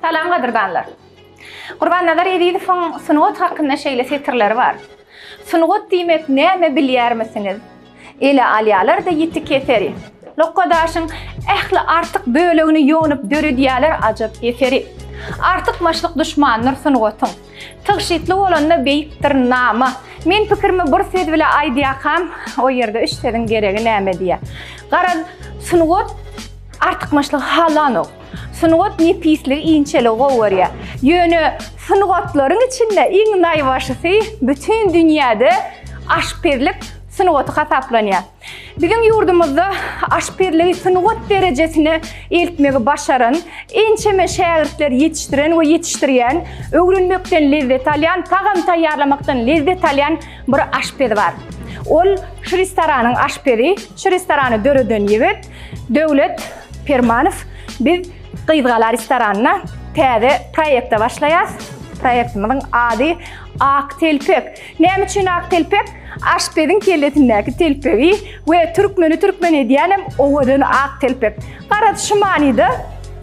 Salam gadyrdanlar. Gurban Nazar Ezizowyň sungat hakynda şeýle setirleri bar. Sungat diýmek näme bilýärmisiňiz? Ele alýalar-da ýiti keseri. Lokga daşyň ähli artyk bölegini ýonup döredýäler ajap eseri. Artykmaçlyk duşmandyr sungatyň. Tygşytly bolanda beýikdir nama. Men pikirimi bir söz bile aýdýakam, o ýerde üç sözüň geregi näme diýýä. Garaz, sungat artykmaçlygy halanok. Sungat nepisligi, inçeligi gowy görýär. Ýöne sungatlaryň içinde iň naýbaşysy bütin dünýäde aşpezlik sungaty hasaplanýar. Biziň ýurdumyzda aşpezligi sungat derejesine eltmegi başaran, ençeme şägirtleri ýetişdiren we ýetişdirýän, öwrenmekden lezzet alýan, tagam taýýarlamakdan lezzet alýan bir aşpez bar. Ol şu restoranyň aşpezi, şu restorany döreden ýigit Döwlet Permanow biz Gyzgala restoranynda täze proýekte başlaýas. Proýektimiziň ady Ak telpek. Näme üçin ak telpek? Aşpeziň kellesindäki telpegi we türkmeni türkmen edýänem owadan ak telpek. Garaz şu manyda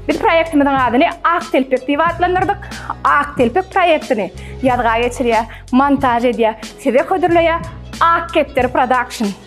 biz proýektimiziň adyny Ak telpek diýip atlandyrdyk. Ak telpek proýektini ýazga geçirýär, montaž edýär, size hödürleýär Ak kepderi production.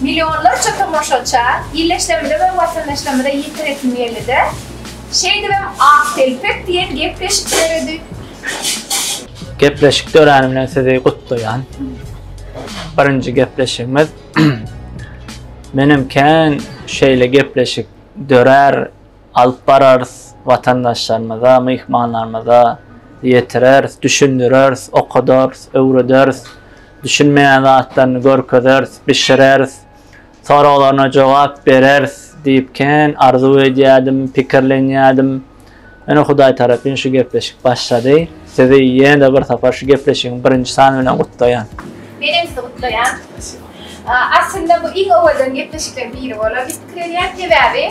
Millionlarça tomaşaça illeşlerimize we watandaşlarymyza ýetiresim geldi-de, şeýdibem Ak telpek diýen gepleşik döredi. Gepleşik döräni bilen sizi gutlaýan. Birinji gepleşigimiz. Menem kän şeýle gepleşik dörär. alyp bararys, watandaşlarymyza, myhmanlarymyza ýetireris, düşündireris, okadarys, öwrederis, düşünmeýän zatlaryny görkezeris, bişireris, soraglaryna jogap bereris diýip kän arzuw edýärdim, pikirlenýärdim. Ine Hudaý tarapyn şu gepleşik başlady. Sizi ýene-de bir sapar şu gepleşigiň birinji sany bilen gutlaýan. Menem sizi gutlaýan. Aslynda bu iň owadan gepleşikleriň biri bolar diýip pikir edýän. Sebäbi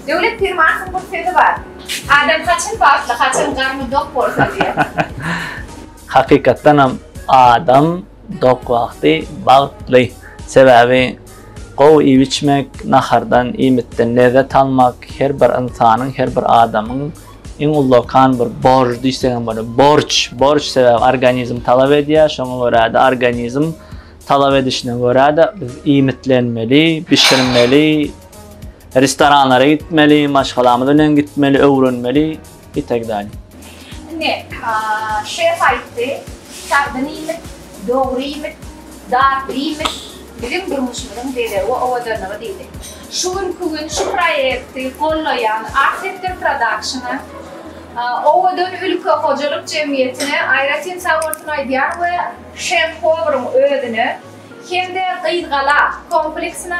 Döwlet Pirmatowyň bir sözi bar. Adam haçan bagtly, haçan garny dok bolsa diýip. Hakykatdan hem adam dok wagty bagtly. Sebäbi gowy iýip-içmek, nahardan, iýmitden lezzet almak her bir ynsanyň, her bir adamyň iň ullakan bir borjy diýsek hem bolar. Borç, borç sebäbi organizm talap edýär, şoňa görä-de organizm talap edişine görä-de biz iýmitlenmeli, bişirmeli. Restoranlara gitmeli, maşgalamyz bilen gitmeli, öwrenmeli, itd. Indi şef aýtdy, sagdyn iýmit, dogry iýmit, datly iýmit biziň durmuşymyzyň bezegi we owadanlygy diýdi. Şu günki gün şu proýekti gollaýan Arsektor Production-a, Owadan ülke hojalyk jemgyýetine aýratyn sag bolsun aýdýan we şef-powryň özüne hem-de Gyzgala kompleksine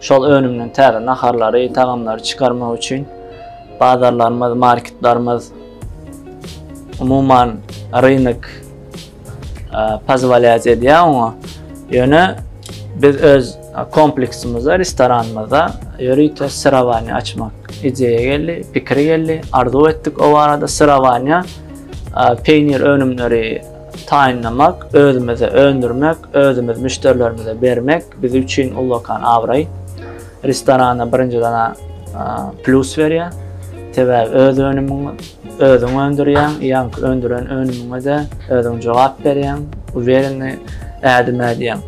Şol önümden täze naharlary, tagamlary çykarmak üçin bazarlarymyz, marketlerimiz, umuman rynek pozwolýat edýär oňa. Ýöne biz öz kompleksimizde, restoranymyzda ýörite syrawaniýa açmak ideýa geldi, pikir geldi, arzuw etdik o barada syrawaniýa peýnir önümleri taýynlamak, özümizde öndürmek, özümiz müşderilerimize bermek biz üçin ullakan abraý. Restorana birinji dana plus berýär. Sebäbi öz önümiň özüň öndürýäň, ýaňky öndüren önümiňe-de özüň jogap berýäň, uwereni ädim ädýäň.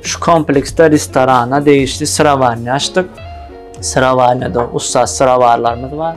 Şu kompleksde restorana degişli syrawarny açdyk. Syrawarnyda ussat syrawarlarymyz bar.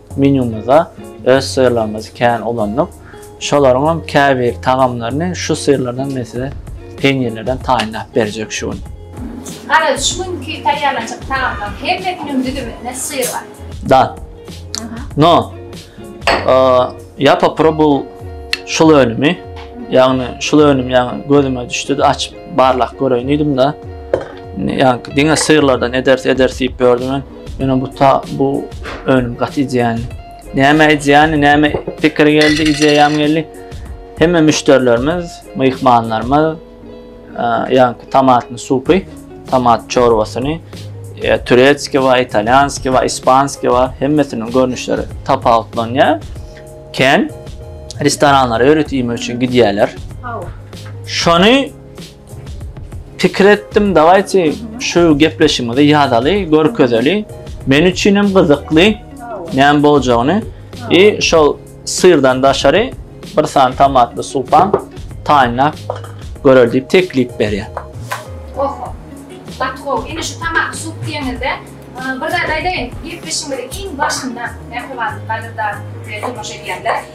Menýumyzda öz syrlarymyzy kän ulandyk. Şolaryňam käbir tagamlaryny şu syrlardan men size peýnirlerden taýynlap berjek şu gün. Garaz, şu günki taýýarlanjak tagamlaryň hemmesiniň düzüminde syr bar. Da. No. Ýa poporobyl şul önümi. Ýagny şul önüm ýagny gözüme düşdi-de açyp barlap göreýin diýdim-de. Ýa diňe syrlardan ederis ederis diýip ýördüm men. Ýöne bu ta bu önüm gaty ideýany. Näme ideýany, näme pikir geldi, ideýam geldi. Hemme müşderilerimiz, myhmanlarymyz ýaňky tomatny supy, tomat çorbasyny, e, turetski we italýanski we ispanski we hemmesiniň görnüşleri tapawutlanýar. Ken restoranlara öýret iýmek üçin gidýärler. Şony Pikir etdim dawayty şu gepleşigimizi yazaly, görkezeli. Men üçin hem gyzykly näme boljagyny. I şol syrdan daşary bir sany tomatly supan taýynlap göreli diýip teklip berýär. Oho. Gaty gowy. Indi şu tomatly sup diýeniňizde bir zat aýdaýyn. Gepleşigimiziň iň başynda mähriban halyplar bilen tomaşa edýänler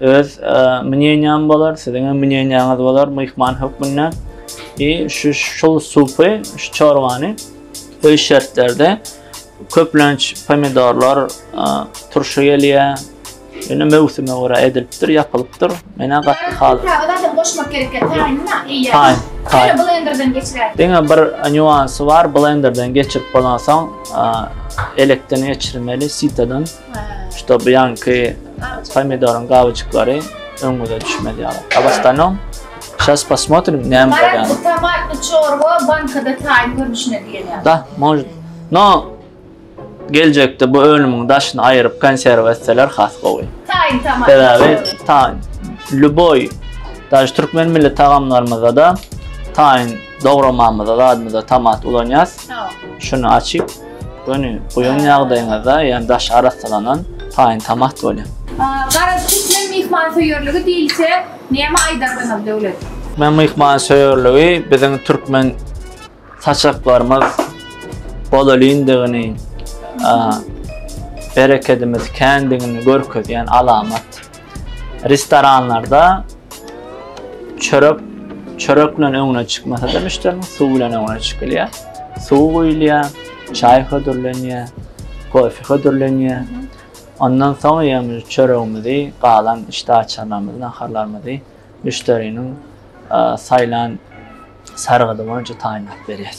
Öz mneniýam bolar, siziň hem mneniýaňyz bolar myhman hökmünde. I şu şul supy, şu çorbany öý şertlerde köplenç pomidorlar turşy gelýär. Ýöne möwsüme görä edilipdir, ýapylypdyr. Menä gaty halyp. Ýa zadam goşmak gerekkä taýynma, eýýäm. Taýyn, taýyn. Ýöne blenderden geçiräýsem. Diňe bir nýuansy bar, blenderden geçirip bolansoň elekden geçirmeli, sitadan. Ştoby ýanky pomidoryň gabajyklary öňüňize düşmez ýaly. Abastanom. Şas posmotrim näme bolýan. Bu tomatly çorba bankada taýyn görnüşine gelýär. Da, mož. No. Geljekde bu önümiň daşyny aýyryp konserwa etseler has gowy. Taýyn tomat. Sebäbi taýyn. Lüboý. Daş türkmen milli tagamlarymyzda da taýyn dogramamyzda zadymyzda tomat ulanýas. Şuny açyp Göni guýan ýagdaýyňyzda, ýagny daşy arassalanan, taýyn tomat bolýar. Garaz, türkmen myhmansöýerligi diýilse, näme aýdardyňyz, Döwlet? Türkmen myhmansöýerligi biziň türkmen saçaklarymyz bolelyndygyny, berekedimiz kändigini görkezýän alamat. Restoranlarda çörek çörek bilen öňüne çykmasa da müşteriniň suw bilen öňüne çykylýar. Suw guýulýar, çaý hödürlenýär, kofe hödürlenýär. Ondan soň ýaňy çöregimizi, galan işdäaçarlarymyzy, naharlarymyzy müşderiniň saýlan sargydy boýunça taýynlap berýär.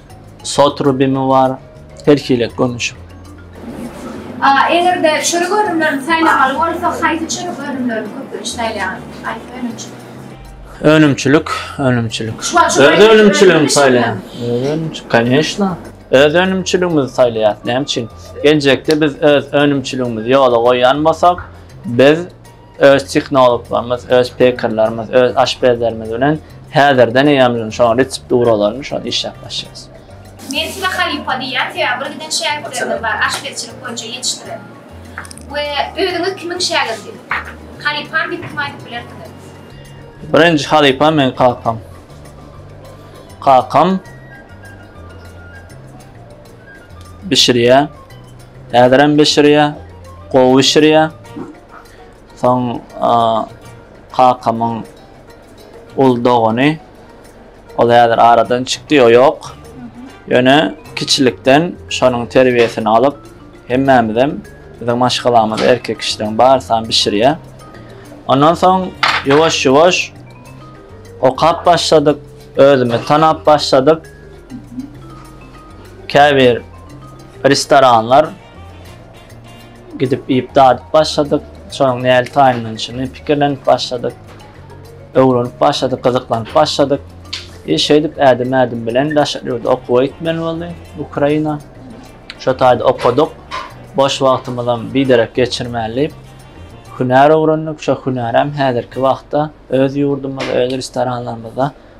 Sot rubimi bar, her hili görnüşi. A eger-de çörek önümlerini saýlamaly bolsa, haýsy çörek önümlerini köplenç saýlaýaňyz? Haýsy önümçilik? Önümçilik, önümçilik. Öz önümçiligimi saýlaýan. Öz önümçilik, koneşna. Öz önümçiligimizi saýlaýas. Näme üçin? Geljekde biz öz önümçiligimizi ýola goýýan bolsak, biz Öz tehnologlarymyz, öz pekerlerimiz, öz aşpezlerimiz bilen häzirden eýýäm şoň retsepturalaryny şo işläp başlaýarys. Men size halypa diýýän, sebäbi bir giden şägirtlerimiz bar, aşpezçilik boýunça ýetişdiren. We özüňiz kimiň şägirdi? Halypam diýip kime aýdyp bilersiňiz? Birinji halypam meň kakam. Kakam bişirýär. Häzirem bişirýär. Gowy bişirýär. Soň kakamyň ul dogany ol häzir aradan çykdy, o ýok. Ýöne kiçilikden şonuň terbiýesini alyp, hemmämizem biziň maşgalamyzda erkek kişileň barysam bişirýär. Ondan soň ýuwaş-ýuwaş okap başladyk, özümi tanap başladyk. Käbir restoranlar Gidip iýip dadyp başladyk. Şonuň nädip taýynlanyşyny pikirlenip başladyk. Öwrenip başladyk, gyzyklanyp başladyk. I şeýdip ädim-ädim bilen daşary ýurda okuwa gitmeli boldy, Ukraina. Şo taýda okadyk. Boş wagtymyzam biderek geçirmäli diýip, hünär öwrendik. Şo hünärem häzirki wagtda öz ýurdumyzda, öz restoranlarymyzda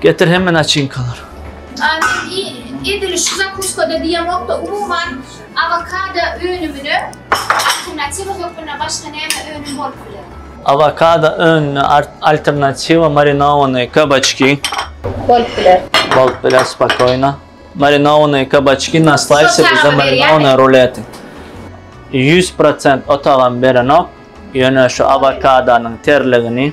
Getir hemme naçinkalar. Aýdym edil şu zakuskada diýemokda umuman awokado önümine alternatiwa hökmünde başga näme önüm bolup biler? Awokado önüne alternatiwa marinowanyý kabaçki bolup biler. Bolup biler spokoýno. Marinowanyý kabaçki na slaýsy bize marinowanyý ruleti ýüz prosent otagam berenok ýöne şu awokadonyň terligini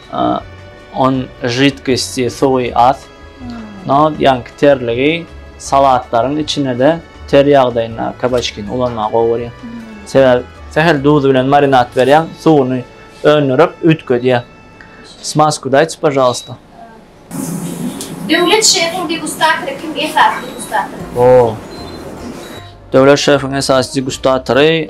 On židkosti suwy az. No, ýaňky terligi salatlaryň içine-de ter ýagdaýynda kabaçkini ulanmagy gowy görýär. Sebäbi sähel duz bilen marinad berýäň, suwuny öndürip üýtgedýär. Smasku daýtsy, pažalysta. Döwlet şefiň degustatory kim esasy degustatory? Döwlet şefiň esasy degustatory.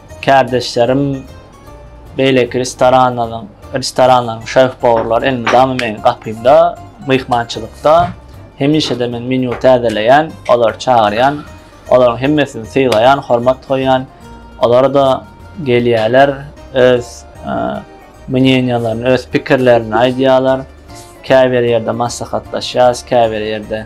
Kärdeşlerim beýleki restoranlaryň, restoranlaryň şef-powurlary elmydama meniň gapymda, myhmançylykda. Hemişe-de men menýu täzeleýän, olary çagyrýan, olaryň hemmesini sylaýan, hormat goýýan. Olar-da gelýärler, öz mnýeniýalaryny, öz pikirlerini aýdýarlar. Käbir ýerde maslahatlaşýarys, käbir ýerde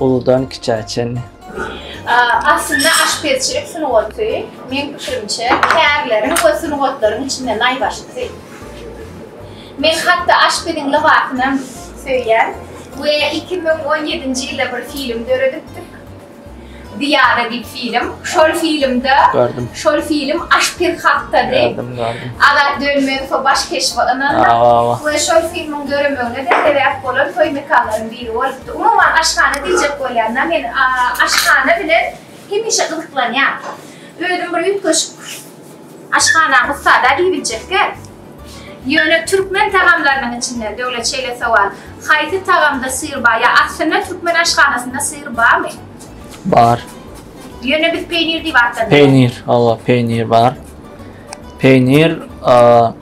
Uludan kiçä çenli. Aslynda aşpezçilik sungaty, meň pikirimçe, kärleriň we sungatlaryň içinde naýbaşysy. Men hatda aşpeziň lybasynam söýýän we iki müň on ýedinji ýylda bir film döredipdik. Diana diýip film. Şol filmde, şol film aşpez hakdady. Azat Dönmezow baş keşbi ynandyk we şol filmiň döremegine-de sebäp bolan toý mekanlaryň Ýeri bolupdy. Umuman aşhana diýjek bolýan da men aşhana bilen hemişe gyzyklanýan. Özüm bir üýtgeşik aşhanaň ussada diýibiljekkä. Ýöne türkmen tagamlarynyň içinden Döwlet şeýle sowal, haýsy tagamda syr bar? Ýa aslynda türkmen aşhanasynda syr barmy? Bar. Ýöne biz peýnir diýip atlandyrýas. Peýnir, hawa peýnir bar. Peýnir, a.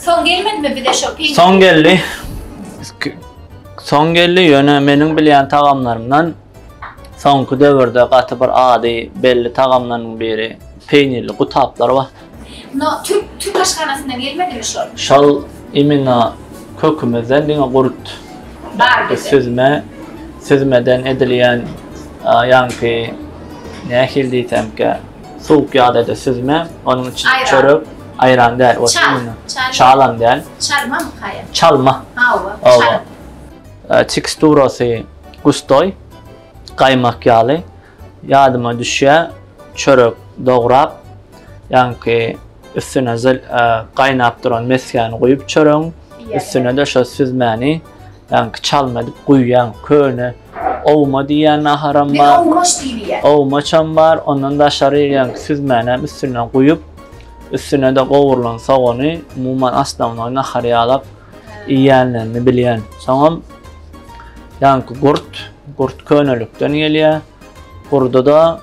Soň gelmedimi bize şo peýnir? Soň geldi. Soň geldi, ýöne meniň bilýän tagamlarymdan soňky döwürde gaty bir ady belli tagamlarynyň biri peýnirli gutaplar bar. No, türk, türk aşhanasyndan gelmedimi şol? Şol imino kökümizden diňe gurt. Bar bize. Süzme, süzmeden edilýän ýaňky nähili diýsemkä. Suwuk ýagdaýda süzme, onuň içine çörek, aýran däl, o çynynda çalam däl. Çalma mı kaýa? Çalma. Hawa, çalma. Teksturasy gustoý, gaýmak ýaly. Ýadyma düşýä, çörek dograp, ýaňky üstüne gaýnap duran mesgäni guýup çöregiň, üstüne-de şo süzmäni. Ýanky çalma edip guýýan köne owma diýýän naharam bar. Owmaç diýýär. Owmaçam bar. Ondan daşary ýanky süzmänem üstünden guýup, üstüne-de gowrulan sogany, umuman osnovnoý nahar ýalap iýýänlerini bilýän. Soňam ýanky gurt, gurt könelikden gelýär. Gurda-da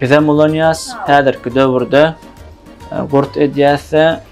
bizem ulanýas. Häzirki döwürde gurt edýäs-de,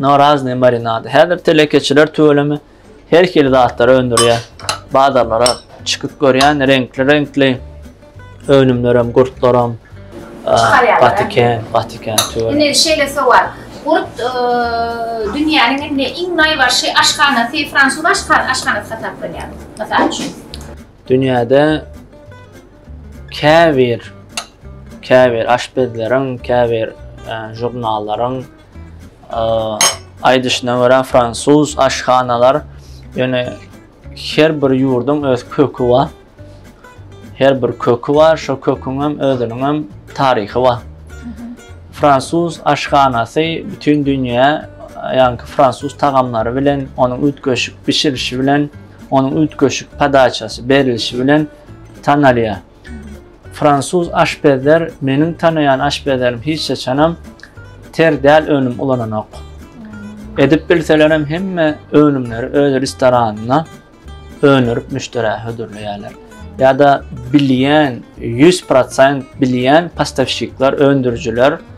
No razne marinady. Häzir telekeçiler tüweleme her hili zatlary öndürýär. Bazarlara çykyp görýän reňkli-reňkli önümlerem, gurtlaram Çykarýarlar, patiken, patiken tüweleme. Indi şeýle sowal. Gurt e, dünýäniň indi iň naýbaşy aşhanasy, fransuz aşhan- aşhanasy hasaplanýar. Mysal üçin. Dünýäde käbir käbir aşpezleriň, käbir e, žurnallaryň Aýdyşyna görä, fransuz aşhanalar, ýöne her bir ýurduň öz köki bar. Her bir köki bar, şo köküň hem özüniň hem taryhy bar. Fransuz aşhanasy bütün dünýä, ýaňky fransuz tagamlary bilen, onuň üýtgeşik bişirişi bilen, onuň üýtgeşik podaçasy, berilişi bilen tanalýar. Fransuz aşpezler meniň tanaýan aşpezlerim hiç haçanam ter däl önüm ulananok. Edip bilselerem hemme önümleri öz restoranynda öndürip müşderä hödürleýärler. Ýa-da bilýän 100% bilýän postavşikler, öndürijiler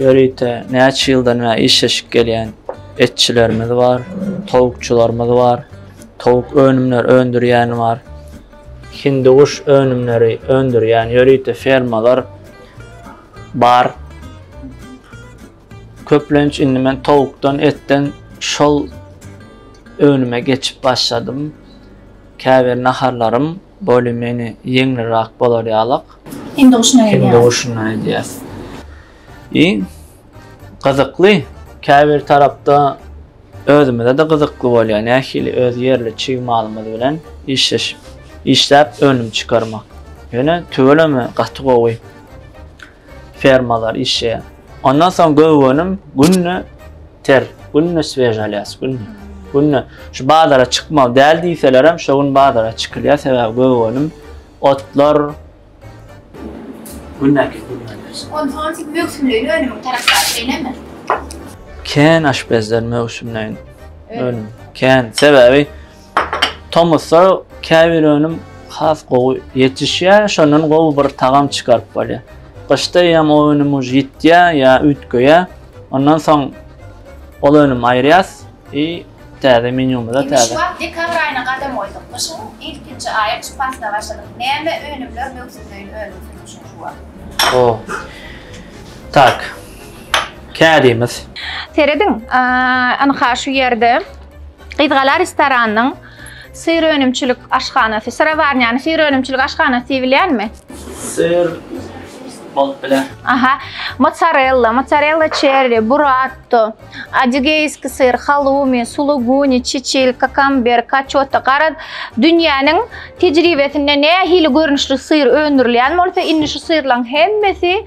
Ýörite näçe ýyldan bäri işleşip gelýän etçilerimiz bar, towukçylarymyz bar, towuk önümleri öndürýän bar, hindiguş önümleri öndürýän ýörite fermalar bar. Köplenç indi men towukdan, etden şol önüme geçip başladym. Käbir naharlarym Bolly meni ýeňlirak bolar ýalak. Hindi guşuna edýäs. Hindi guşuna edýäs. I gyzykly käbir tarapda özümize-de gyzykly bolýar. Nähili öz ýerli çig malymyz bilen işleşip, işläp önüm çykarmak. Ýöne tüweleme gaty gowy. fermalar işleýär. Ondan soň göw önüm günde ter, günde svež alýas, günde. Günde şu bazara çykmaly däl diýselerem, şo gün bazara çykylýar, sebäbi göw önüm, otlar, Gündäki gürrüňler. Ondan soň siz möwsümleýin önümiň tarapdary, şeýlemi? Kän aşpezler möwsümleýin önüm. Kän, sebäbi Tomusda käbir önüm has gowy ýetişýär, şondan gowy bir tagam çykaryp bolýar. Gyşda ýa o önüm uje ýitýär, ýa üýtgeýär. Ondan soň ol önümi aýyrýas i täze menýumyza täze. Şu wagt dekabr aýyna gadam goýduk. Gyşyň ilkinji aýy gyş paslyna başladyk. Näme önümler möwsümleýin önümsiz gyşyň şu wagt? O. Tak. Kädimiz. Serediň, ynha şu ýerde. Gyzgala restoranynyň syr önümçilik aşhanasy, syrawarnýany syr önümçilik aşhanasy diýip bilýärmi? Syr bolup biler. Aha, mozzarella, mozzarella cherry, burrato, adigeyski syr, halumi, suluguni, çiçil, kakamber, kaçota, gara dünýäniň tejribesinde nähili görnüşli syr öndürilýän bolsa, indi şu syrlaryň hemmesi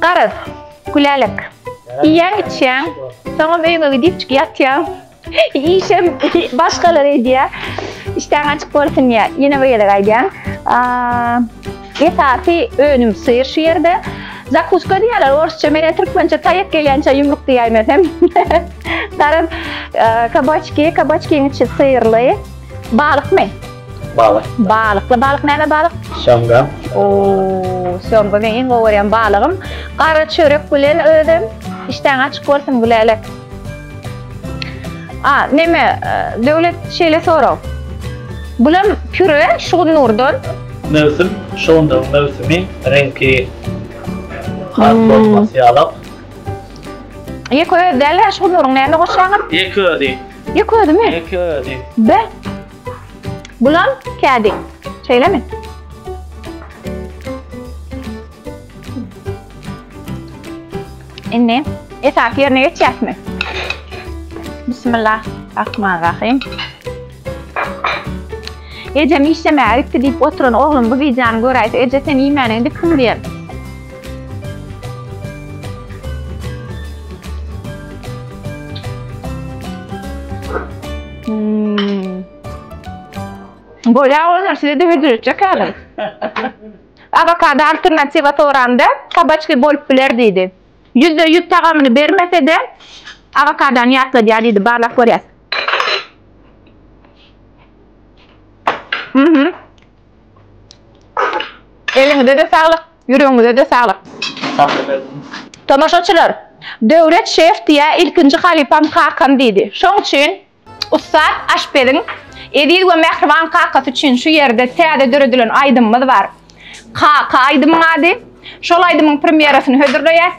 Garaz, Gülälek, iýýäň-içýäň, soňam öýüňe gidipjik ýatýaň. Işem başgalar edýär. Işdäň açyk bolsun diýýär. Ýene bir gezek aýdýan. Esasy önüm syr şu ýerde. Zakuska diýýärler orsça, men-ä türkmençe taýak gelýänçä ýumruk diýäýmesem. Garaz, kabaçki, kabaçkiň içi syrly. Balykmy? Balyk. Balykly balyk näme balyk? Şamga. Oo, şamga men iň gowy görýän balygym. Gara çörek bilen özüm. Işdäň açyk bolsun Gülälek. A, neme, e, Döwlet şeýle sorag. Bulam püre şugunurdan. Möwsüm, şugundyryň möwsümi, reňki has hmm. bolmasy ýalak. Ýeke özi däl-ä şugundyryň näme goşýaňyz? Ýeke özi. Ýek ödimi? Ýek ödi. Be. Bulam kädi. Şeýlemi? Indi esas ýerine geçýäsmi? Bismillah. Rahman Rahim. Ejem işlemäge gitdi diýip oturan oglum bu wideony göräýse, eje sen iýmäne indi kim diýer? Bolýar bolsa size-de hödürletjek häzir. Awokado alternatiwa soranda, kabaçki bolup biler diýdi. Ýüzde ýüz tagamyny bermese-de, awokadony ýatladýar diýdi, barlap görýäs. Eliňize-de saglyk. Ýüregiňize-de saglyk. Sag boluň. Tomaşaçylar, Döwlet şef diýä ilkinji halypam kakam diýdi. Şoň üçin ussat aşpeziň eziz we mähriban kakasy üçin şu ýerde täze döredilen aýdymymyz bar. Kaka aýdymyň ady. Şol aýdymyň premýerasyny hödürleýäs.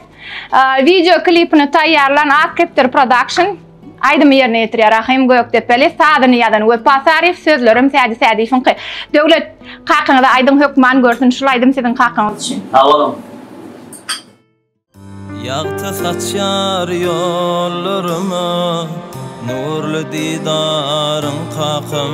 Wideo klipini taýýarlan Ak kepder prodakşn. Aýdymy ýerine ýetirýär Rahym Gökdepeli, sazyny ýazan Wepa Saryýew, sözlerem Sädi Sädiýewiňki. Döwlet, kakyňyza aýdyň hökman görsün şul aýdym siziň kakyňyz üçin. Sag boluň. Ýagty saçýar ýollaryma, Nurly didaryň kakam.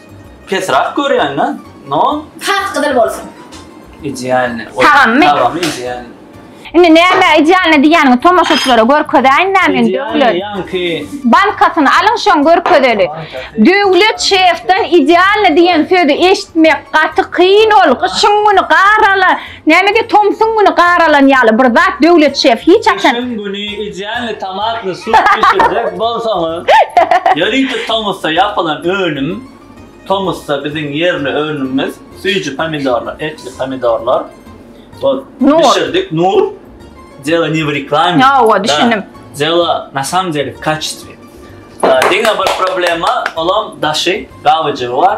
Pesrak görýän da. No. Sap gyzyl bolsun. Idealny. Tagammy? Tagamy idealny. Indi näme idealny diýýäniňi tomaşaçylara görkezäýin näme indi Idealny döwlet. ýaňky Bankasyny alyň şoň görkezeli. Bankasy. Döwlet şefden idealny diýen sözi eşitmek gaty kyn ol. Gyşyň güni garala Näme de tomsuň güni gar alan ýaly bir zat Döwlet şef hiç haçan. Gyşyň güni idealny tomatny sup bişirjek bolsaňyz ýörite tomusda ýapylan önüm tomusda biziň ýerli önümimiz süýji pomidorlar etli pomidorlar ol bişirdik nur dela ne w reklame ýowa düşündim dela na samom dele w kaçestwe diňe bir problema olam daşy gabyjygy bar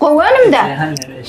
Gowy önümde.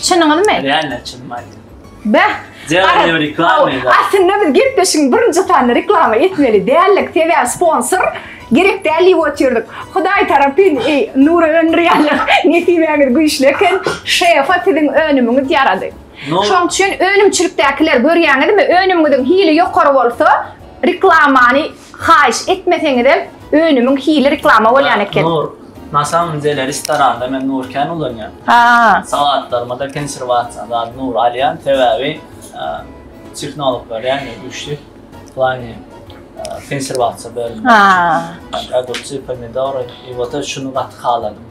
Çynyňyzmy? Real çyn maýda. Beh. Zerre reklama edip. Aslynda biz gepleşigiň birinji sanyny reklama etmeli däldik. Sebäbi sponsor gerek däl diýip otyrdyk. Hudaý tarapyn eý Nury öndürýänler. Nesibäňiz güýçli eken. Şefa siziň önümiňiz ýarady. Şoň üçin önümçilikdäkiler görýäňizmi? Önümiňiziň hili ýokary bolsa reklamany Haýyş etmeseňizem önümiň hili reklama bolýan eken. Nur, na samym dele restoranda men Nur kän ulanýan. Haa. Salatlaryma da konserwasiýa zady Nur alýan sebäbi tehnologlar ýagny güýçli w plani konserwasiýa bölüminde. Haa. Ogurçy, pomidory i wota şuny gaty haladym.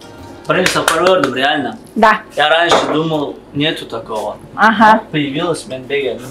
Birinji sapar gördüm realno. Da. Ýa ranşe dumal netu takogo. Aha. Poýawilos men begendim.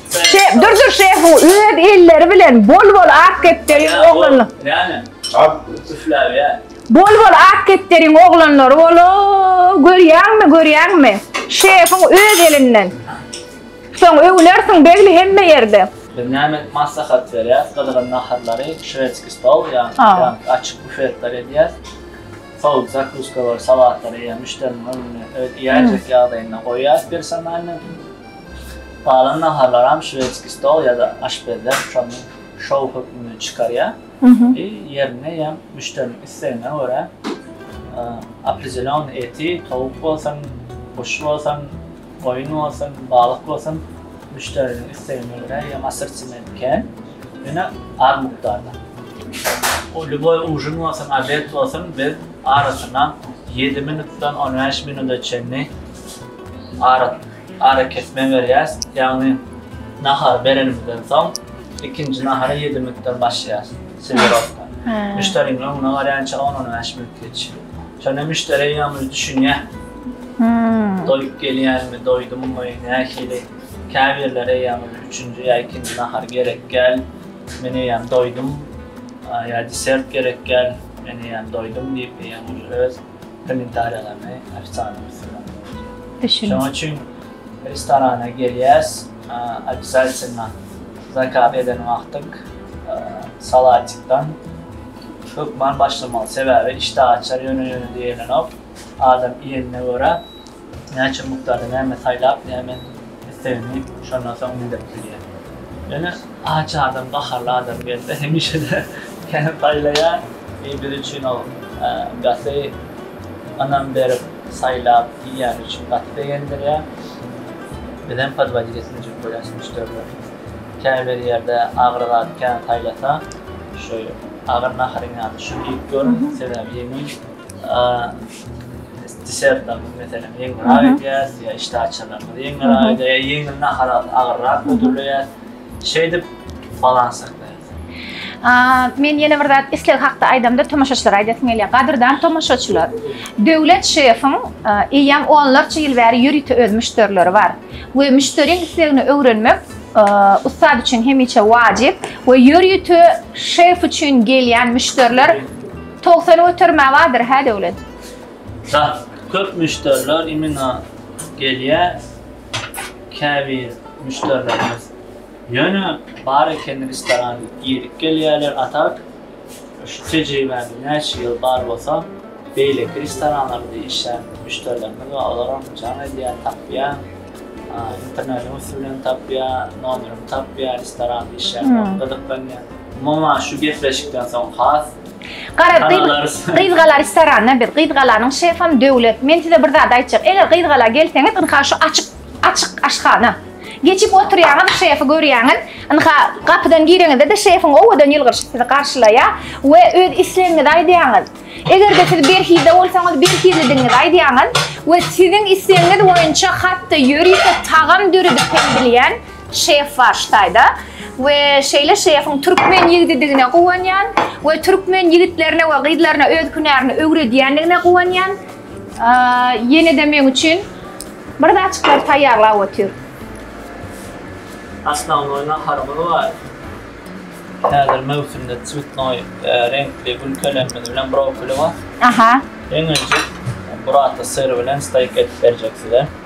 Şef, Durdur şefiň öz elleri bilen bol-bol ak kepderiň oglanla. Näme? Ak üfläýär. Bol-bol ak kepderiň oglanlary bol-ow, görýäňmi, görýäňmi? Şefiň öz elinden. Soň öwünersiň begli hemme ýerde. Biz näme maslahat berýäs, gyzgyn naharlary, şwedskiý stol, ýa-da açyk bufetler edýäs. Sowuk zakuskalar, salatlary ýa müşderiniň öňüne öz iýäýjek ýagdaýynda goýýas personalnyň. Galan naharlaram şwedskiý stol ýa-da aşpezler şony şou hökmünde çykarýar i ýerinde ýa müşderiniň islegine görä opredelýonnyý eti, towuk bolsun, guş bolsun, goýun bolsun, balyk bolsun müşderiniň islegine görä ýa assortimenty kän, ýöne az mukdarda. O lýuboý ujin bolsun, obed bolsun biz arasyna ýedi minutdan on bäş minuda çenli ara. Arakesme berýäs, ýagny nahary berenimizden soň ikinji nahara ýedi minutdan başlaýas, serwirowka. Müşderiň öňüne barýança on-on bäş minut geçýär. Şonda müşderi eýýäm düşünýär, doýup gelýänmi, doýdummy, nähili. Käbirleri eýýäm üçünji ýa ikinji nahar gerekgäl, men eýýäm doýdum, ýa desert gerekgäl, men eýýäm doýdum diýip, eýýäm öz. Kommentariýalaryny ofisandyň üstünden goýarys. Şonuň üçin restorana gelýäs, obýazatelno zakaz eden wagtyň salatikdan hökman başlamaly. Sebäbi işdä açar, ýöne-ýöne diýelenok. Adam iýenine görä. näçe mukdarda näme saýlap, näme islegini şondan soň bildirip bilýär. Ýöne aç adam, gaharly adam gelse, hemişe-de näme saýlaýar, eý biz üçin ol gaty ynam berip, saýlap iýýäni üçin gaty begendirýär. Bizem podwodit etmejek bolýarys müşderileri. Käbir ýerde agyr zat kän saýlasa, şu agyr naharyň ýanyna şu iýip gör, sebäbi ýeňil. desertlerimiz meselem ýeňilräk edýäs, ýa işdäaçarlarymyzy ýeňilräk edýäs, ýa ýeňil naharalary agyrrak hödürleýäs. Şeýdip balans saklaýas. Men ýene bir zat isleg hakda aýdamda tomaşaçylara aýdasym gelýär. Gadyrdan tomaşaçylar, Döwlet şefiň eýýäm onlarça ýyl bäri ýörite öz müşderileri bar we müşderiň islegini öwrenmek ussat üçin hemişe wajyp we ýörite şef üçin gelýän müşderiler Togsan götermä bardyr hä Döwlet. Sah, köp müşderiler imina gelýä käbir müşderilerimiz ýöne bar eken restoran girip gelýäler a tak şu tejribämiz näçe ýyl bar bolsa beýleki restoranlarymyzda işlän müşderilerimiz bar olaram jaň edýä tapýa a internetiň üsti bilen tapýa nomerymy tapýa restoran işlän gyzyklanýa umuman şu gepleşikden soň has Garaz, gyzgala restoranda biz. Gyzgalanyň şefam Döwlet. Men size bir zat aýtjak. Eger gyzgala gelseňiz, ynha şu açyk, açyk aşhana. Geçip oturýaňyz, şefi görýäňiz. Ynha, gapydan gireňizde-de şefiň owadan ýylgyryşy sizi garşylaýar we öz islegiňizi aýdýaňyz. Eger-de siz berhizde bolsaňyz, berhizlidigiňizi aýdýaňyz we siziň islegiňiz boýunça hat-da ýörite tagam döredip hem bilýän Şef bar Ştaýda we şeýle şefiň türkmen ýigdidigine guwanýan we türkmen ýigitlerine we gyzlaryna öz hünärini öwredýändigine guwanýan. Ýene-de meň üçin bir zatjyklary taýýarlap otyr. Asnawnoý naharymyz bar. Häzir möwsümde cwitnoý reňkli gülkelemimiz bilen brokoli bar. Aha. Iň öňki burata syr bilen steýk edip berjek size.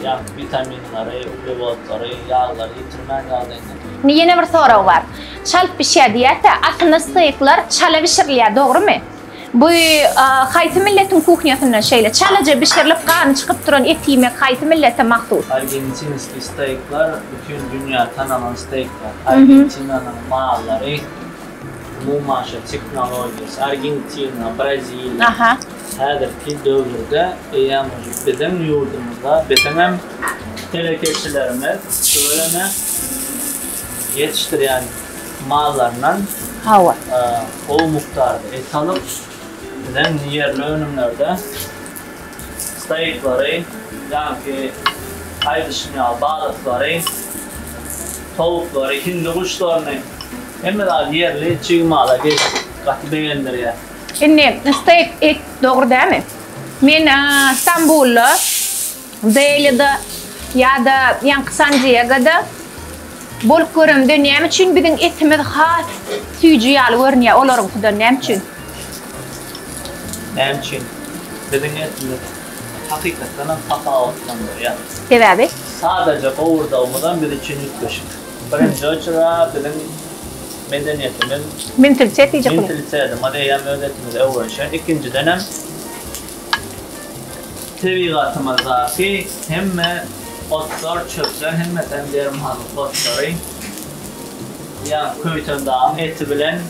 Ýag, witaminleri, uglewodlary, ýaglary ýitirmän ýagdaýyny diňleýin. Indi ýene bir sorag bar. Çalt bişýär diýýärse, aslynda steýkler çala bişirilýär, dogrumy? Bu haýsy milletiň kuhnýasynda şeýle? Çalaja bişirilip, gany çykyp duran eti iýmek haýsy millete mahsus? Argentinskiý steýkler bütin dünýä tanalan steýkler. Argentinanyň mallary umuman şol tehnologiýasy. Argentina, Braziliýa. Häzirki döwürde eýýäm biziň ýurdumyzda biziňem telekeçilerimiz tüweleme ýetişdirýän mallaryndan gowy mukdarda et alyp, biziň ýerli önümlerde stoýklary, ýaňky aýdyşym ýaly balyklary, towuklary, hindi guşlaryny hemme zady ýerli çig mala geçdik. Gaty begendirýär. Indi steak et dogry dämi? Men Stambulda, Delida ýa-da ýaňky San-Diegoda bolup göremde näme üçin biziň etimiz has süýji ýaly görünýär olaryňkydan näme üçin? Näme üçin? Biziň etimiz hakykatdan hem tapawutlandyrýar. Sebäbi? Sadaja gowurdagymyzam biz üçin üýtgeşik. Birinji oçurda biziň. medeniýetimiz Mentalite diýjek bular. Mentalitetimiz eýýäm öz etimize öwrenişen. Ikinjidenem tebigatymyzdaky hemme otlar, çöpler hemmesi hem dermanlyk otlary. Ýa Köýtendagyň eti bilen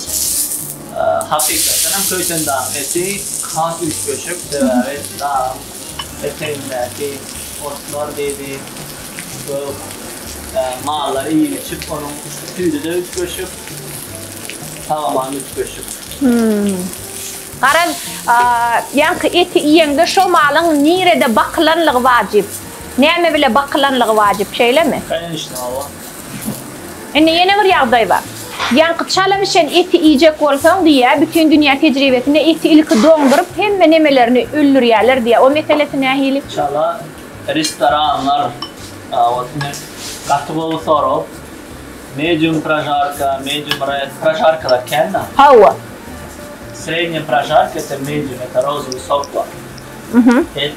hakykatdan hem Köýtendagyň eti has üýtgeşik. Sebäbi dagyň Etegindäki otlar diýdi, gök mallar iýip-içip, onuň sütüdi-de üýtgeşik, tagama-da üýtgeşik. Hüm. Garaz, ýaňky eti iýeňde şo malyň nirede bakylanlygy wajyp, näme bile bakylanlygy wajyp, şeýlemi? Kanyşna, hawa. Indi ýene bir ýagdaý bar. Ýaňky çala bişen eti iýjek bolsaň diýýär, bütin dünýä tejribesinde eti ilki doňduryp, hemme nemelerini öldürýärler diýýär. O meselesi nähili? Çala restoranlar owasini gaty gowy sorap, medium prožarka, medium red, prožarkalar kän da. Hawa. Srednýa prožarka ýa-da medium ýa-da rozowy sok bar. Et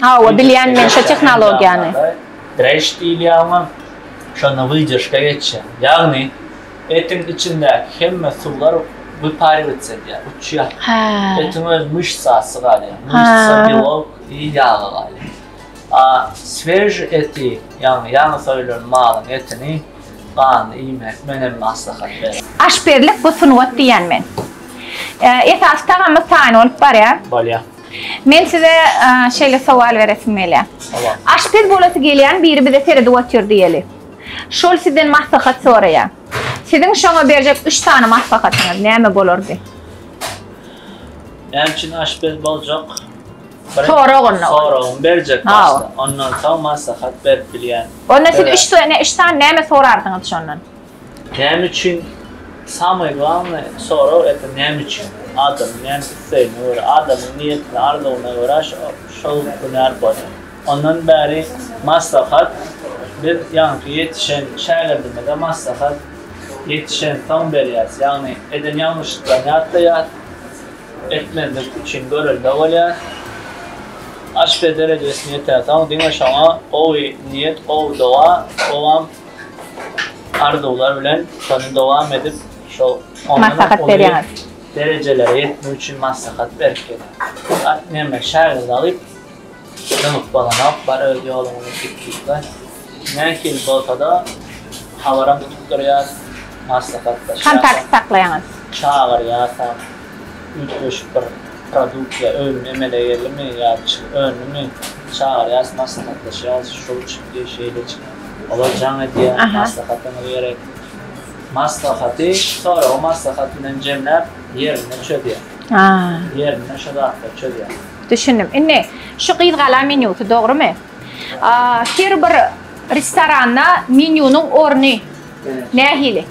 Hawa bilýän men şo tehnologiýany. Dreş diýilýär oňa. Şonda wydержка geçýär. Ýagny etiň içindäki hemme suwlar wyparirwats edýär, uçýar. Etiň öz myşsasy galýar. Myşsa, belok i ýagy galýar. A sveži eti, ýagny ýaňy soýulan malyň etini ganly iýmek men hem maslahat berän. Aşpezlik bu sungat diýýän men. Esasy tagamyz taýyn bolup barýar. Bolýar. Men size şeýle sowal beresim gelýär. Aşpez bolasy gelýän biri bize seredip otyr diýeli. Şol sizden maslahat soraýar. Siziň şoňa berjek üç sany maslahatyňyz näme bolardy? Näme üçin aşpez boljak? Sorag onda. Soragymy berjek başda. Ondan soň maslahat berip bilýän. Onda siz üç sany näme sorardyňyz şondan? Näme üçin samay glawnaý sorag ete näme üçin adamyň näme islegine görä adamyň niýetine arzuwyna görä şol hünär bolýar. Ondan bäri maslahat biz ýaňky ýetişen şägirdimize maslahat ýetişen soň berýäs ýagny eden ýalňyşyklaryny ýatlaýas etmezlik üçin görelde bolýas aşpez derejesine ýetersoň diňe şoňa gowy niýet gowy doga gowam Arzuwlar bilen şony dowam edip şo maslahat berýäňiz. Derejelere ýetmek üçin maslahat berip gelýär. At neme şägird alyp dymyp bolanok bar öz ýoluňyzy git diýipler. Nähili bolsada habaram tutup durýas maslahatlaşýas. Kontakt saklaýaňyz. Çagyrýasam. üýtgeşik bir produksiýa önüm emele geldimi ýa çig öndümi çagyrýas maslahatlaşýas şol üçin diýip şeýle çykyp olar jaň edýär maslahatyňyz gerekli maslahaty soragy maslahat bilen jemläp ýerinde çözýär ýerinde şo zatlary çözýär. Düşündim. Indi şu gyzgala menýusy dogrymy? Her bir restoranda menýunyň orny nähili?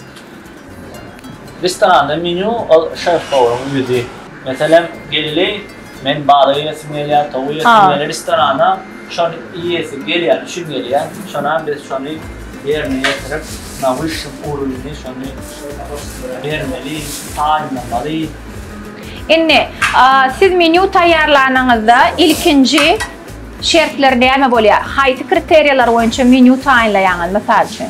Restoranda menýu ol şef-powryň özi. Meselem, geldi, men balyk iýesim gelýär, towuk iýesim gelýär. Restorana şony iýesi gelýäni üçin gelýär. Şonda biz şony ýerine ýetirip, na wyşşym uruwni şony bermeli, taýynlamaly. Indi, siz menýu taýýarlanyňyzda ilkinji şertler näme bolýar? Haýsy kriteriýalar boýunça menýu taýynlaýaňyz, mysal üçin?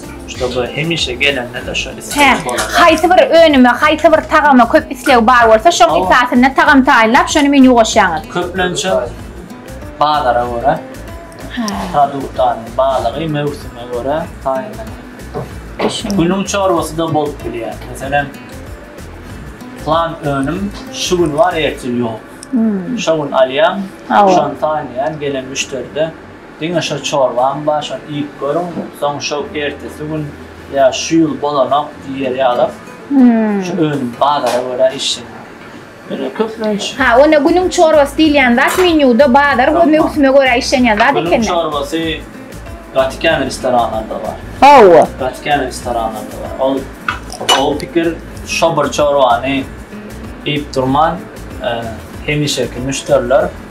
Şoba hemişe gelende-de şol isleg bolar. Haýsy bir önüme, haýsy bir tagama köp isleg bar bolsa, şoň esasynda tagam taýynlap, şony menýu goşýaňyz. Köplençe bazara görä, produktaryň balygy möwsüme görä taýynlanýar. Günüň çorbasy-da bolup bilýär. Meselem, plan önüm şu gün bar, ertir ýok. Şo gün alýan, şony taýynlaýan, gelen müşderide. Diňe şo çorbaň bar, şony iýip görüň, soň şo ertesi gün ýa şu ýyl bolanok diýer ýalam, şo önüm bazara görä işjeň. Ýöne köplenç. Ha, onda günüň çorbasy diýilýän zat menýuda bazar we möwsüme görä işlenýän zat ekeni. Günüň çorbasy gaty kän restoranlarda bar. Hawa. Gaty kän restoranlarda bar. Ol gowy pikir, şo bir çorbany iýip durman, hemişeki müşderiler.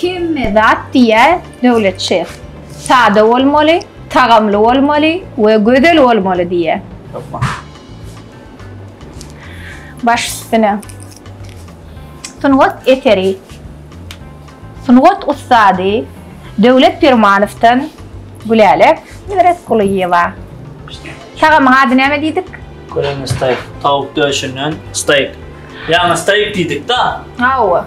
Hemme zat diýýär Döwlet şef, sada bolmaly, tagamly bolmaly we gözel bolmaly diýýär. Hökman. Baş üstüne. Sungat eseri. Sungat ussady Döwlet Permanowdan Gülälek Nebereskulyýewa. Tagamyň ady näme diýdik? Köleň steýk. Tawuk döşünden steýk. Ýaňy steýk diýdik-da. Hawa.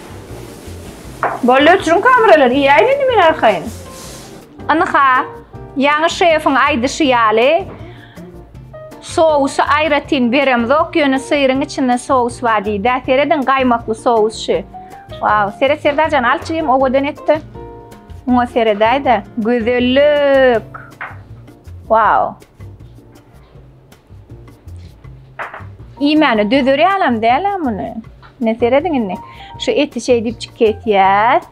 Boldy öçüriň kameralary iýäýin indi men arkaýyn. Ynha, ýaňy şefiň aýdyşy ýaly, sousy aýratyn beremzok, ýöne syryň içinde sous bar diýdi-ä. Serediň, gaýmakly sous şu. Wau, seret Serdarjan, al jigim, owadan et-de. Muňa seredäý-de. Gözellik! Wau! Iýmäne dözer ýalam däl-ä muny. Ne serediň indi. Şu eti şeý diýip çik kesýäs.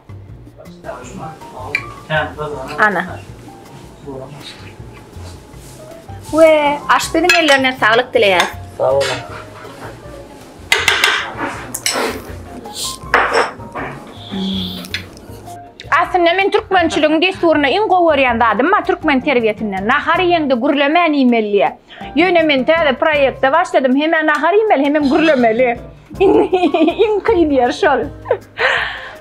Ana. We aşpeziň ellerine saglyk dileýäs. Sag boluň. Aslynda men türkmençiligiň dessuryny iň gowy görýän zadym bar türkmen terbiýesinde. Nahar iýeňde gürlemän iýmeli diýýär. Ýöne men täze proýekte başladym. Hemem nahar iýmeli, hemem gürlemeli. Iň kyn ýeri şol.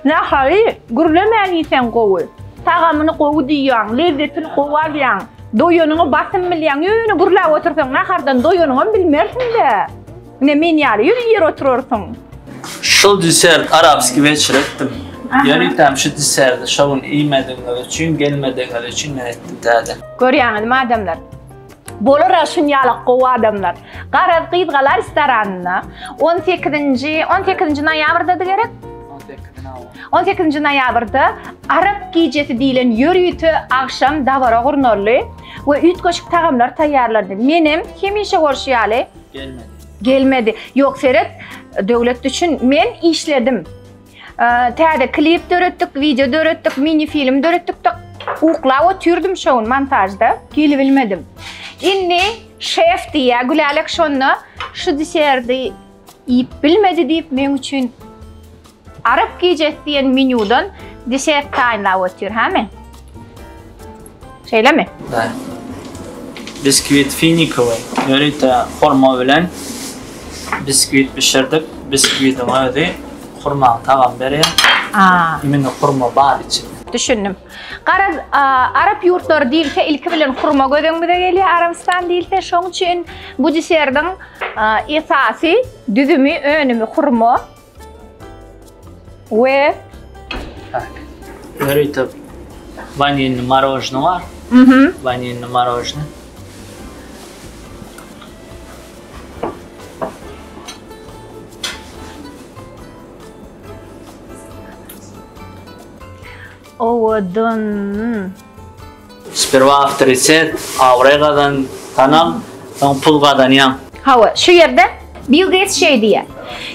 Nahary gürlemän iýseň gowy. Tagamyny gowy duýýaň, lezzetini gowy alýaň. Doýanyňy basym bilýäň. Ýöne gürläp otursaň nahardan doýanyňam bilmersiň-dä. Ine men ýaly ýüz ýer oturarsyň. Şul desert arabski weçir etdim. Ýörütem şu deserti şo gün iýmedigiňiz üçin, gelmedigiňiz üçin men etdim täze. Görýäňizmi adamlar? Bolara şunýalak gowy adamlar. Garaz gyz gala restoranynda on sekizinji, on sekizinji noýabrdady gerek? On sekizinji noýabr. On sekizinji noýabrda arap gijesi diýlen ýörite agşam dabara gurnaldy we üýtgeşik tagamlar taýýarlandy. Menem hemişe bolşy ýaly Gelmedi. Gelmedi. Yok seret döwlet üçin men işledim. Ee, Täze klip döretdik, video döretdik, mini film döretdik de uklap oturdum şu gün montajda. Gelip bilmedim. Indi şef diye Gülälek şonda şu diserdi iýip bilmedi diýip men üçin Arap gijesi diýen menýudan desert taýynlap otyr, hämi? Şeýlemi? Bä. Biskwit finikowy, ýörite hurma bilen biskwit bişirdik. Biskwidiň özi hurmaň tagam berýär. Aa. Imini hurma bar içinde. Düşündim. Garaz, arap ýurtlary diýilse, ilki bilen hurma göz öňümize gelýär, Arabystan diýilse. Şoň üçin bu desertiň esasy düzümi, önümi hurma. We Ha. Ýörite vanilli marojny bar. Mhm. Vanilli marojny. owadan. Sperwa awtoritet, abraý gazan, tanal, soň pul gazanýaň. Hawa, şu ýerde Bill Geýts şeý diýýär,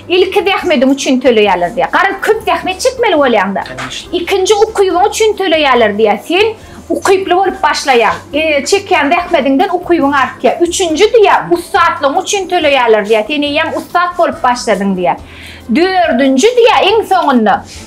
Ilki zähmediň üçin töleýärler diýýär. Garaz, köp zähmet çekmeli bolýaň-da. Ikinji ukybyň üçin töleýärler diýýär. Sen ukyply bolup başlaýaň. Çekýän zähmediňden ukybyň artýar. Üçünji diýýär, ussatlygyň üçin töleýärler diýýär. Sen eýýäm ussat bolup başladyň diýýär. Dördünji diýýär, iň soňunda.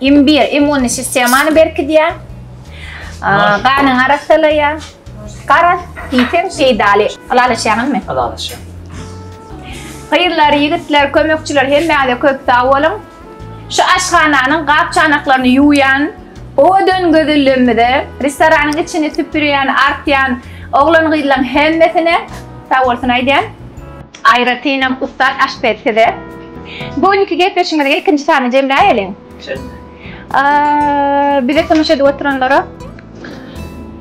Imbir immunny sistemany berkidýär. Ganyňy arassalaýar. Garaz diýseň peýdaly. Ylalaşýaňyzmy? Ylalaşýan. Gyzlar, ýigitler, kömekçiler hemmäňize köp sag boluň. Şu aşhananyň gap-çanaklaryny ýuwýan, owadan gözelligimize, restoranyň içini süpürýän, artýan oglan-gyzlaň hemmesine sag bolsun aýdýan. Aýratynam ussat aşpez size. Bu günki gepleşigimiziň ilkinji sanyny jemläýeliň. Bize tomaşa edip oturanlara.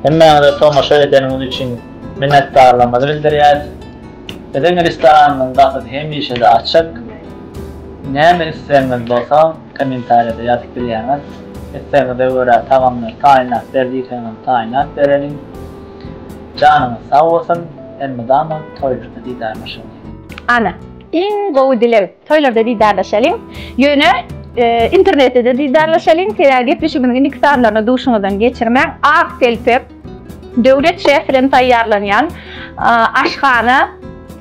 Hemmäňize tomaşa edeniňiz üçin minnetdarlygymyzy bildirýäris. Biziň restoranymyzyň gapysy hemişe-de açyk. Näme islegiňiz bolsa kommentariýada ýazyp bilýäňiz. Islegiňize görä tagamlary taýynlap ber diýseňem taýynlap bereliň. Janyňyz sag bolsun elmydama toýlarda didarlaşalyň. Ana, iň gowy dileg, toýlarda didarlaşalyň, ýöne internetde-de didarlaşalyň, sebäbi gepleşigimiziň indiki sanlaryny duşuňyzdan geçirmäň, Ak telpek, Döwlet şefren taýýarlanýan aşhana.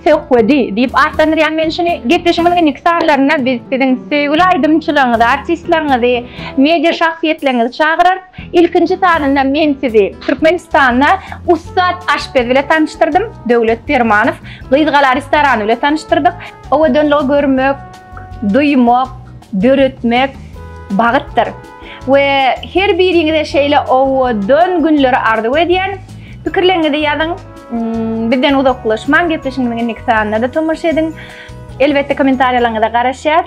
Söhbedi diýip atlandyrýan men şuny. Gepleşigiň indiki sanlarynda biz siziň söýgüli aýdymçylaryňyzy, artistleriňizi, media şahsyýetleriňizi çagyrarys. Ilkinji sanynda men sizi Türkmenistanda ussat aşpez bilen tanyşdyrdym, Döwlet Permanow. Gyzgala restorany bilen tanyşdyrdyk. Owadanlygy görmek, duýmak, döretmek bagytdyr. We her biriňize şeýle owadan günleri arzuw edýän. Pikirleriňizi ýazyň. Bizden uzaklaşmaň, gepleşigimiziň indiki sanynda-da tomaşa ediň. Elbetde kommentariýalaryňyza garaşýas.